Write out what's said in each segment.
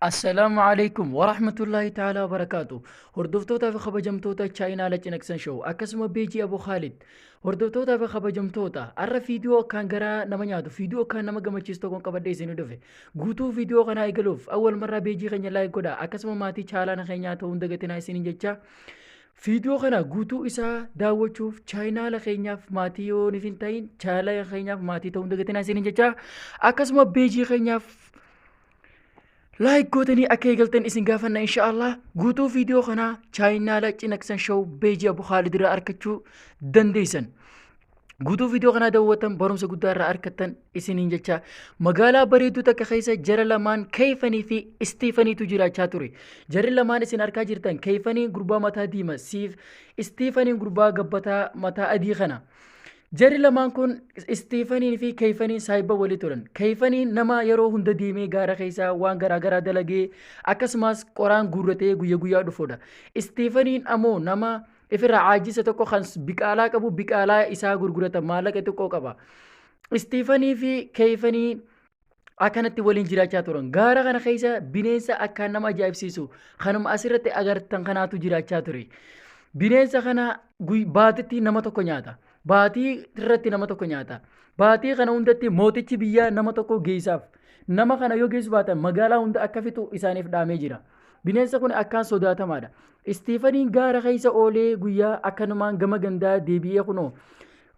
Assalaamu alaikum wa rahmatullahi ta'ala wa barakaatu. Hordoftootaa fi kabajamtoota chaayinaala cinaqsan show akkasuma beejii Abu Khaalid. Hordoftootaa fi kabajamtoota har'a viidiyoo akkaan garaa nama nyaatu viidiyoo akkaan nama gammachiisu tokkoon qabadhee isin dhufe. Guutuu viidiyoo kanaa eegaluuf awwal marraa beejii keenya laayik godhaa akkasuma maatii chaalaana keenyaa ta'uun dagatinaa isiniin jechaa. Viidiyoo kana guutuu isaa daawwachuuf chaayinaala keenyaaf maatii yoo hin ta'in chaayinaala keenyaaf maatii ta'uun dagatinaa isiniin jechaa akkasuma beejii keenyaaf Laayik gootanii akka eegaltan isin gaafanna inshaallah guutuu viidiyoo kanaa chaayinaala cinaqsan show beejii abu khaalid irraa arkachuu dandeessan. Guutuu viidiyoo kanaa daawwatan barumsa guddaa irraa arkattan isiniin jecha magaalaa bareedduu takka keessa jara lamaan keeyfanii fi istiifaniitu jiraachaa ture. Jarri lamaan isin arkaa jirtan keeyfanii gurbaa mataa diima siif istiifaniin gurbaa gabbataa mataa adii kana. Jarri lamaan kun Istiifaniin fi Keeyfaniin saahibba walii turan. Keeyfaniin nama yeroo hunda deemee gaara keessaa waan garaa garaa dalagee akkasumas qoraan guurratee guyya guyyaa dhufudha. Istiifaniin ammoo nama ifirra caajjisa tokko kan biqaalaa qabu biqaalaa isaa gurgurata maallaqa xiqqoo qaba. Istiifanii fi Keeyfanii akkanatti waliin jiraachaa turan. Gaara kana keessa bineensa akkaan nama ajaa'ibsiisu kanuma asirratti agartan kanaatu jiraachaa ture. Bineensa kana guy- baatitti nama tokko nyaata. Baatii irratti nama tokko nyaata. Baatii kana hundatti mootichi biyyaa nama tokko geessaaf. Nama kana yoo geessu baatan magaalaa hunda akka fixu isaaniif dhaamee jira. Bineensa kun akkaan sodaatamaadha. Istiifaniin gaara keessa oolee guyyaa akkanumaan gama gandaa deebi'ee kunoo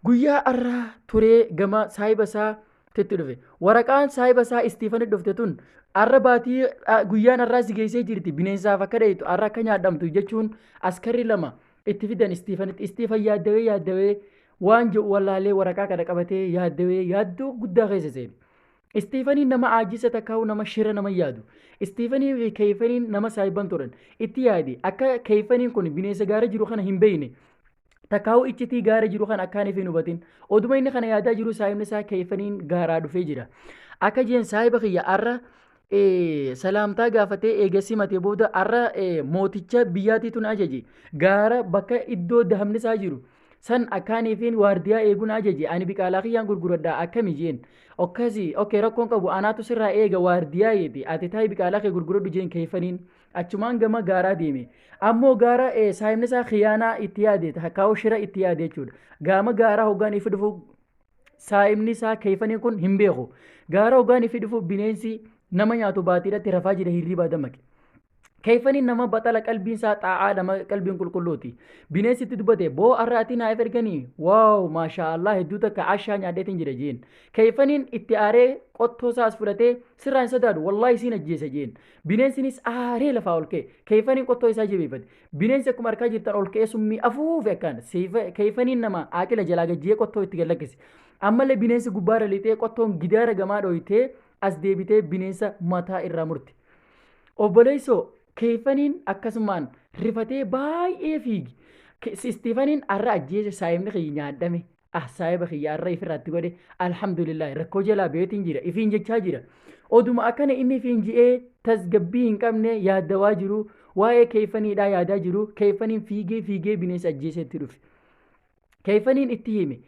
guyyaa har'aa turee gama saahiba isaa titti dhufe waraqaan saahiba isaa istiifani dhufte tun arra baatii ah, guyyaan arraa si geessee jirti bineensaaf akka dheeytu arra akka nyaadhamtu jechuun askarri lama itti fidan istiifanitti istiifan yaaddawee yaaddawee waan jedhu wallaalee waraqaa kana qabatee yaaddawee yaaddoo guddaa keessa seene. Istiifanii nama aajisa takkaa'u nama shira nama yaadu. Istiifanii fi keeyfaniin nama saahiban turan. Itti yaadi akka keeyfaniin kun bineensa gaara jiru kana hin beeyne. Takkaa'uu iccitii gaara jiru kan akkaan ife hin hubatin. Oduma inni kana yaadaa jiru saahibni isaa keeyfaniin gaaraa dhufee jira. Akka jeen saahiba kiyya arra eh, salaamtaa gaafatee eega simatee booda arra eh, mooticha biyyaatiitu na ajaje. Gaara bakka iddoo dahabni isaa jiru. San akkaaniifiin waardiyaa eeguun ajaje ani biqaalaa kiyyaan gurguradha akkami jeen. Okkasi, okkee rakkoon qabu anaatu sirraa eega waardiyaa jeete ati taayi biqaalaa kee gurguradhu jeen keeyfaniin. Achumaan gama gaaraa deeme. Ammoo gaara eh, saahibni isaa khiyaanaa itti yaade takkaa'u shira itti yaade jechuudha. Gaama gaaraa hoggaan ifi dhufu saahibni isaa keeyfaniin kun hin beeku. Gaara hoggaan ifi dhufu bineensi nama nyaatu baatiidhatti rafaa jira hirriibaa dammaqe. Keeyfaniin nama baxala qalbiin isaa xaa'aa nama qalbiin qulqulluuti. Bineensi itti dubbate boo arraatii naaf erganii waaw maashaa Allah hedduu takka ashaa nyaadheetiin jira jeen. Keeyfaniin itti aaree qottoo isaas fudhatee sirraa hin sodaadhu wallaahi isiin ajjeesa jeen. Bineensinis aaree lafaa ol ka'e. Keeyfaniin qottoo isaa jabeeffate. Bineensi akkuma harkaa jirtan ol ka'ee summii afuufe akkaan. Keeyfaniin namaa aaqila jalaa gajjiyee qottoo itti gad lakkise. Ammallee bineensi gubbaarra lixee qottoon gidaara gamaa dhooytee as deebitee bineensa mataa irraa murte. Obboleessoo, keeyfaniin akkasumaan rifatee baay'ee fiigi. Istiifaniin arra ajjeese saayimni kiyyi nyaadhame. ah saahiba kiyya arra ifirratti godhe alhamdulillahi rakkoo jalaa beetiin jira ifiin jechaa jira oduma akkana inni ifiin ji'ee tasgabbii hin qabne yaadawaa jiru waa'ee keeyfaniidhaa yaadaa jiru keeyfaniin fiigee fiigee bineensa ajjeesetti dhufe keeyfaniin itti hime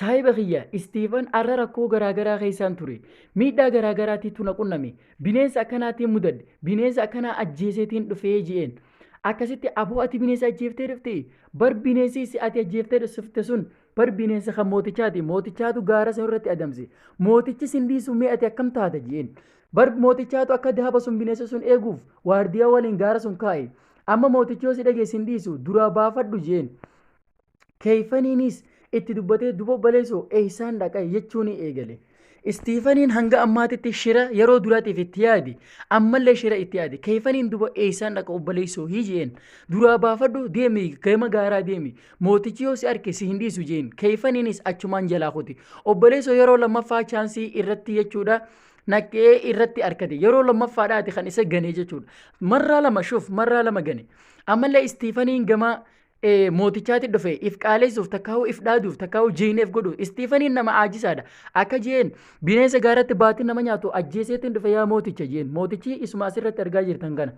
saahiba kiyya istiifan arra rakkoo garaagaraa keessaan ture miidhaa garaagaraatiitu na qunname bineensa akkanaatiin mudadhe bineensa akkanaa ajjeeseetiin dhufee ji'een Akkasitti aboo ati bineensa ajjeeftee dhufte bar bineensi si ati ajjeeftee dhufte sun bar bineensa kan mootichaati mootichaatu gaara sun irratti adamse mootichi sin dhiisu mee ati akkam taata jeen bar mootichaatu akka daaba sun bineensa sun eeguuf waardiyaa waliin gaara sun kaa'e amma mootichi yoo si dhagee sin dhiisu duraa baafadhu jeen Keeyfaniinis itti dubbatee duba baleesoo eeysaan dhaqa jechuun eegale. Istiifaniin hanga ammaatitti shira yeroo duraatiif itti yaadi ammallee shira itti yaadi keeyfaniin duba eeysaan dhaqa obbaleeysoo hii jeen duraa baafadhu deemi gama gaaraa deemi mootichi yoo si arke si hin dhiisu jeen keeyfaniinis achumaan jalaa kuti obbaleeysoo yeroo lammaffaa chaansii irratti jechuudha naqee irratti arkate yeroo lammaffaadhaati kan isa ganee jechuudha marraa lama shuf marraa lama gane ammallee istiifaniin gama mootichaatti dhufe if qaaleessuuf takkaa'uu if dhaaduuf takkaa'uu jiineef godhuuf istiifaniin nama aajisaadha akka jeen bineensa gaaratti baatiin nama nyaatu ajjeeseetiin dhufe yaa mooticha jeen mootichi isuma asirratti argaa jirtan kana.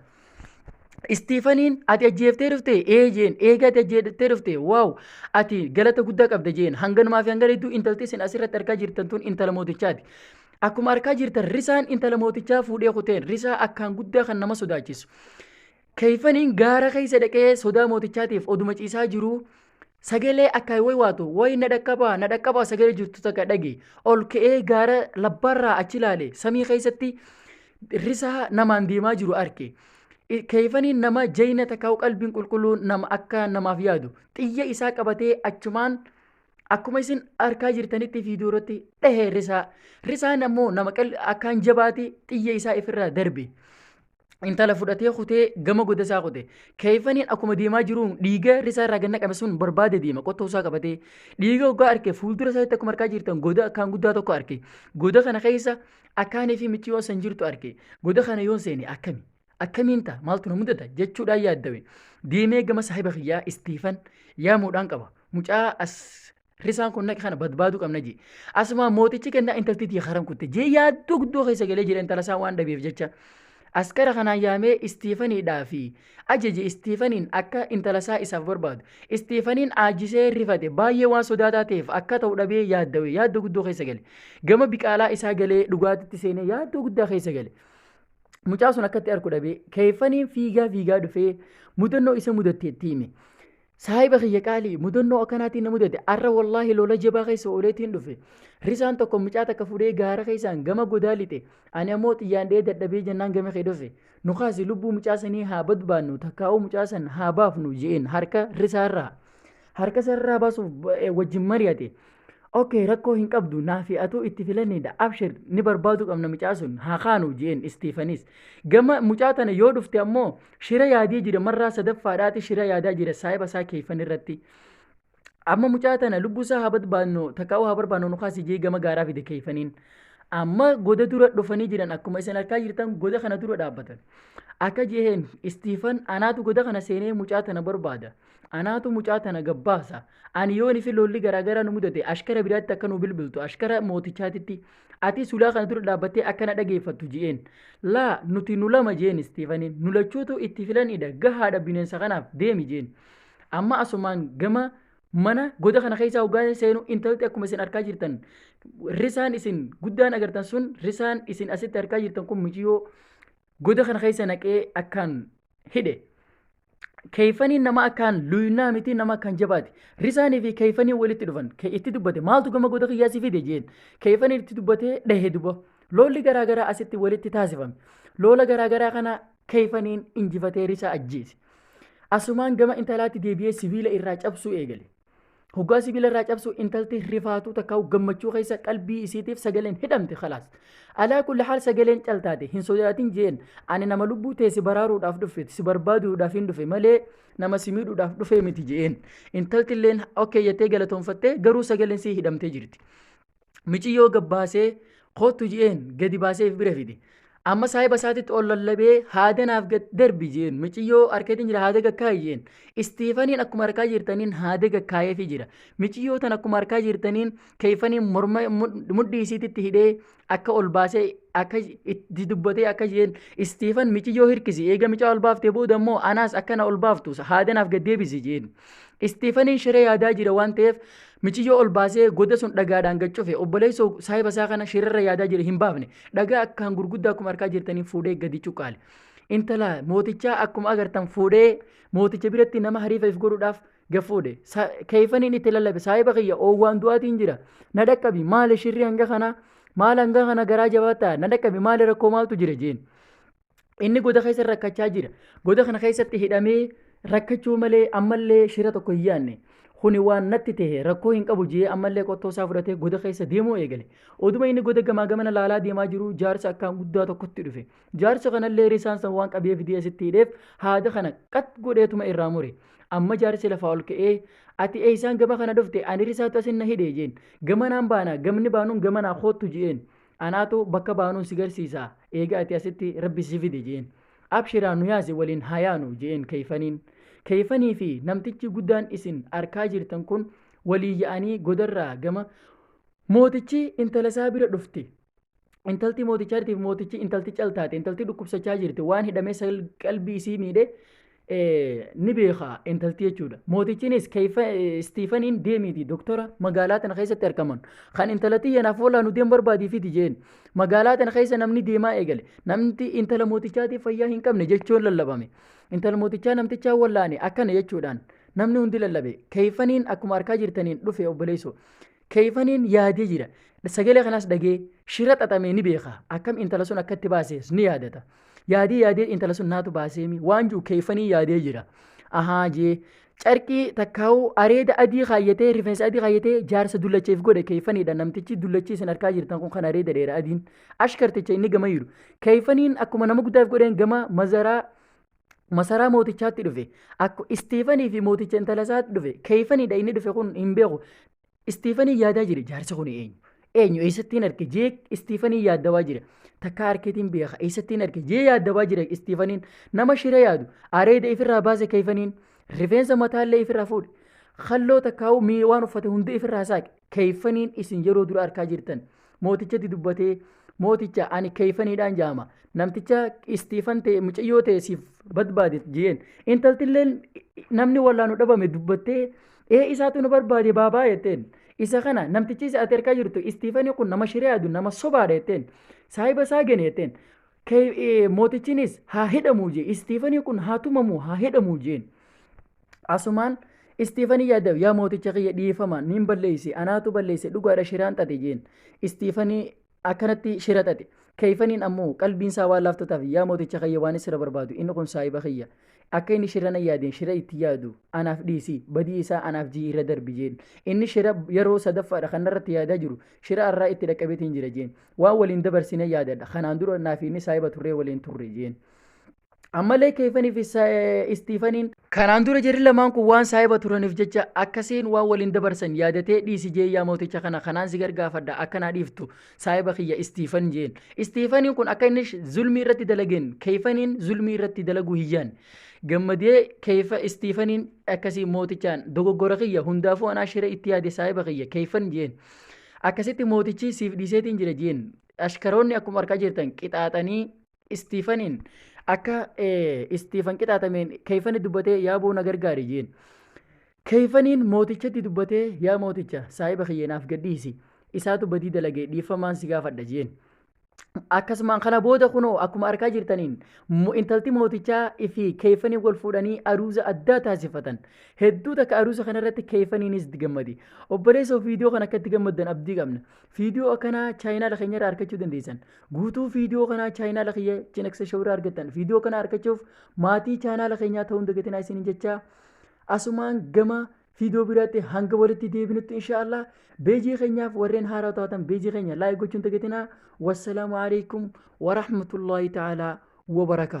Istiifaniin ati ajjeeftee dhufte ee jeen eega ati ajjeeftee dhufte waaw ati galata guddaa qabda jeen hanganumaa fi hangana hedduu intalti isin asirratti argaa jirtan tun intala mootichaati. Akkuma argaa jirtan risaan intala mootichaa fuudhee kuteen risaa akkaan guddaa kan nama sodaachisu. Kayfaniin gaara keessa dhaqee sodaa mootichaatiif oduma ciisaa jiruu sagalee akkaan way waatu way na dhaqqabaa na dhaqqabaa sagalee jirtu takka dhage ol ka'ee gaara labbaarraa achi ilaale samii keessatti risaa namaan deemaa jiru arke. Kayfaniin nama jayna takkaa qalbiin qulqulluun nama akka namaaf yaadu xiyya isaa qabatee achumaan akkuma isin arkaa jirtanitti fiidiyoo irratti dhahe risaa. Risaan ammoo nama akkaan jabaati xiyya isaa ifirraa darbe. intala fudhatee kutee gama goda isaa kute. Keeyfaniin akkuma deemaa jiruun dhiiga risaa irraa ganna qabe sun barbaade deema qottoo isaa qabatee. Dhiiga hoggaa arke fuuldura isaatti akkuma arkaa jirtan goda akkaan guddaa tokko arke. Goda kana keessa akkaanii fi micciyoon san jirtu arke. Goda kana yoon seene akkami? Akkamiin ta'a? Maaltu na mudata? Jechuudhaan yaaddawe. Deemee gama saahiba kiyyaa Istiifan yaamuudhaan qaba. Mucaa as Risaan kun naqi kana badbaaduu qabna jee. Asumaan mootichi kennaa intalti tiyya karan kutte jee yaaddoo guddoo keessa galee jira intala isaa waan dhabeef jecha. Askara kanaan yaamee Istiifaniidhaa fi ajaje Istiifaniin akka intala isaa isaaf barbaadu. Istiifaniin aajisee rifate baay'ee waan sodaataa ta'eef akka ta'u dhabee yaaddawe yaaddoo guddoo keessa gale. Gama biqaalaa isaa galee dhugaatitti seenee yaaddoo guddaa keessa gale. Mucaa sun akkatti arku dhabee keeffaniin fiigaa fiigaa dhufee mudannoo isa mudatteetti hime. Saahiba kiyya qaalii mudannoo akkanaatiin na mudate arra wallaahi lola jabaa keessa ooleetiin dhufe risaan tokko mucaa takka fudhee gaara keessaan gama godaa lixe ani ammoo xiyyaan dhee dadhabee jennaan gama kee dhufe nu kaasi lubbuu mucaa sanii haa badbaannu takkaa'uu mucaa san haa baafnu je'een harka risaarraa harka sarraa baasuuf wajjin mari'ate Okay rakkoo hin qabdu naafi atuu itti filanidha abshir ni barbaadu qabna mucaa sun haa kaanu jeen istiifanis gama mucaa tana yoo dhufte ammoo shira yaadee jira marraa sadaffaadhaati shira yaadaa jira saahiba isaa keeyfan irratti amma mucaa tana lubbuu isaa haa barbaadnu takkaa'uu haa barbaadnu nu kaasi jee gama gaaraa fide keeyfaniin amma goda dura dhufanii jiran akkuma isin arkaa jirtan goda kana dura dhaabbatan akka jeen istiifan anaatu goda kana seenee mucaa tana barbaada Anaatu mucaa tana gabbaasa. Ani yoon isin lolli garaagaraa nu mudate ashkara biraatti akka nu bilbiltu ashkara mootichaatitti ati sulaa kana dura dhaabbattee akka na dhageeffattu ji'een. Laa nuti nu lama jeen Istiifaniin nu lachuutu itti filanidha gahaadha bineensa kanaaf deemi jeen. Amma asumaan gama mana goda kana keessaa hoggaan seenu intalti akkuma isin arkaa jirtan risaan isin guddaan agartan sun risaan isin asitti arkaa jirtan kun miciyoo goda kana keessa naqee akkaan hidhe. Keeyfaniin nama akkaan luynaa miti nama akkaan jabaati. Risaanii fi keeyfaniin walitti dhufan. Ke- Itti dubbate maaltu gama goda kiyyaa si fide jeen. Keeyfaniin itti dubbatee dhahe duba. Loolli garaa garaa asitti walitti taasifame. Loola garaa garaa kana keeyfaniin injifatee risaa ajjeese. Asumaan gama intalaatti deebi'ee sibiila irraa cabsuu eegale. Hoggaa sibiila irraa cabsu intalti rifaatuu takka gammachuu keessa qalbii isiitiif sagaleen hidhamte khalaas. Alaa kulli haal sagaleen caltaate hin sodaatin jeen ani nama lubbuu tee si baraaruudhaaf dhufe si barbaaduudhaaf hin dhufe malee nama si miidhuudhaaf dhufe miti jeen. Intalti illeen okkee jettee galatoonfattee garuu sagaleen sii hidhamtee jirti. miciyyoo gabbaasee koottu je'een gadi baasee if bira fide. Amma saahiba isaatitti ol lallabee haada naaf gad darbi jeen miciyyoo harkeetiin jira haada gakkaayi jeen istiifaniin akkuma harkaa jirtaniin haada gakkaayeefi jira miciyyoo tan akkuma harkaa jirtaniin keeyfaniin morma mudhii isiititti hidhee akka ol baasee akka itti dubbatee akka jeen istiifan miciyyoo hirkisi eega micaa ol baaftee booda immoo anaas akkana ol baaftu haada naaf gad deebisi jeen istiifaniin shiree yaadaa jira waan ta'eef Miciyyoo ol baasee goda sun dhagaadhaan gad cufe obboleessoo saahiba isaa kana shirarra yaadaa jire hin baafne dhagaa akkaan gurguddaa akkuma harkaa jirtaniin fuudhee gadi cuqqaale. Intala mootichaa akkuma agartan fuudhee mooticha biratti nama hariifa if godhuudhaaf gad fuudhe. Sa- Keeyfaniin itti lallabe saahiba kiyya oowwaan du'aatiin jira na dhaqqabi maali shirri hanga kanaa maal hanga kana garaa jabaattaa na dhaqqabi maali rakkoo maaltu jira jeen. Inni goda keessa rakkachaa jira. Goda kana keessatti hidhamee rakkachuu malee ammallee shira tokko hin yaadne. Kuni waan natti ta'e rakkoo hin qabu jee ammallee qottoo isaa fudhatee goda keessa deemuu eegale. Oduma inni goda gamaa gamana laalaa deemaa jiru jaarsa akkaan guddaa tokkotti dhufe. Jaarsa kanallee risaan san waan qabee fidee asitti hidheef haada kana qat godheetuma irraa mure. Amma jaarsi lafaa ol ka'ee ati eeysaan gama kana dhufte ani risaatu asin na hidhe jeen. Gamanaan baana gamni baanuun gamanaa koottu je'een. Anaatu bakka baanuu si garsiisa. Eega ati asitti rabbi si fide jeen. Abshiraa nu yaasi waliin haa yaanu jeen Keeyfaniin. Keeyfanii fi namtichi guddaan isin arkaa jirtan kun walii ya'anii godarraa gama Mootichi intala isaa bira dhufte. Intalti mootichaatiif mootichi intalti cal taate. Intalti dhukkubsachaa jirti. Waan hidhamee sal qalbii isii miidhe ni beeka intalti jechuudha. Mootichinis Istiifaniin deemiiti doktora magaalaa tana keessatti argaman kan intalatti yanaaf walaa nu deem barbaadii fidi jeen magaalaa tana keessa namni deemaa eegale namti intala mootichaatiif fayyaa hin qabne jechuun lallabame intala mootichaa namtichaa wallaane akkana jechuudhaan namni hundi lallabe keeyfaniin akkuma arkaa jirtaniin dhufe obboleesso Keeyfaniin yaadee jira. Sagalee kanaas dhagee shira xaxamee ni beeka. Akkam intala sun akkatti baasees ni yaadata. Yaadee yaadee intala sun naatu baaseemi waan jiru keeyfanii yaadee jira. Ahaa jee carqii takkaa'uu areeda adii kaayyatee rifeensa adii kaayyatee jaarsa dullacheef godhe keeyfaniidha namtichi dullachii isin harkaa jirtan kun kan areeda dheera adiin ashkarticha inni gama jiru. Keeyfaniin akkuma nama guddaaf godheen gama mazaraa masaraa mootichaatti dhufe akku istiifanii fi mooticha intala isaatti dhufe keeyfanidha inni dhufe kun hin beeku istiifanii yaadaa jira jaarsi kun eenyu eenyu eessattiin arke jee istiifanii yaaddawaa jira takka harkeetiin beeka eessattiin arke jee yaaddawaa jira istiifaniin nama shira yaadu areeda ifirraa baase keeyfaniin rifeensa mataallee ifirraa fuudhe halloo takkaa'uu mii waan uffate hundi ifirraa saaqe keeyfaniin isin yeroo dura arkaa jirtan mootichatti dubbatee mooticha ani keeyfaniidhaan jaama namticha istiifan ta'e mucayyoo ta'e siif barbaade jeen intaltilleen namni wallaanu dhabame dubbattee ee isaatu nu barbaade baabaa jetteen isa kana namtichi isa ati harkaa jirtu istiifanii kun nama shiree adu nama sobaadha jetteen saahiba isaa gene jetteen Kee- ee, mootichinis haa hidhamuu jee istiifanii kun haa tumamuu haa hidhamuu jeen Asumaan Istiifanii yaaddaa'u yaa mooticha kiyya dhiifama niin balleeyse anaatu balleeyse dhugaadha shiraan xaxe jeen. Istiifanii akkanatti shira xaxe. Keeyfaniin ammoo qalbiin isaa waan laaftu taaf yaa mooticha kiyya waan isra barbaadu inni kun saahiba kiyya. Akka inni shira na yaadeen shira itti yaadu anaaf dhiisi badii isaa anaaf jii irra darbi jeen. Inni shira yeroo sadaffaadha kan narratti yaadaa jiru shira arraa itti dhaqqabeetiin jira jeen. Waan waliin dabarsine yaadadha kanaan dura naaf inni saahiba turree waliin turre jeen. Ammallee Keefanii fi Istiifaniin Kanaan dura jarri lamaan kun waan saahiba turaniif jecha akkasiin waan waliin dabarsan yaadatee dhiisi jee yaa mooticha kana kanaan si gargaafadha akka naa dhiiftu saahiba kiyya istiifan jeen. Istiifaniin kun akka inni zulmii irratti dalageen keeyfaniin zulmii irratti dalaguu hiyyaan. Gammadee keeyfa istiifaniin akkasii mootichaan dogoggora kiyya hundaafuu anaa shira itti yaade saahiba kiyya keeyfan jeen. Akkasitti mootichi siif dhiiseetiin jira jeen. Ashkaroonni akkuma argaa jirtan qixaaxanii Istiifaniin akka Istiifan qixaatameen keeyfani dubbatee yaa boo na gargaari jeen. Keeyfaniin mootichatti dubbatee yaa mooticha saahiba kiyyeenaaf gadhiisi isaatu badii dalagee dhiiffamaan si gaafadha jeen. Akkasumaan kana booda kunoo akkuma arkaa jirtaniin intalti mootichaa fi keeyfanii wal fuudhanii aruuza addaa taasifatan. Hedduu takka aruuza kanarratti keeyfaniinis itti gammadi. Obboleessa viidiyoo kan akka itti gammaddan abdii qabna. Viidiyoo akkanaa chaayinaala keenyarraa argachuu dandeessan. Guutuu viidiyoo kanaa chaayinaala kiyya Chinaksa Show irraa argattan. Viidiyoo kana argachuuf maatii chaayinaala keenyaa ta'uun dagatinaa isiniin jechaa asumaan gama viidiyoo biraatti hanga walitti deebinutti inshaallah beejii keenyaaf warreen haaraa taatan beejii keenya laayik gochuun dagatinaa. Wassalaamu alaikum wa rahmatullahi ta'ala wa barakaatu.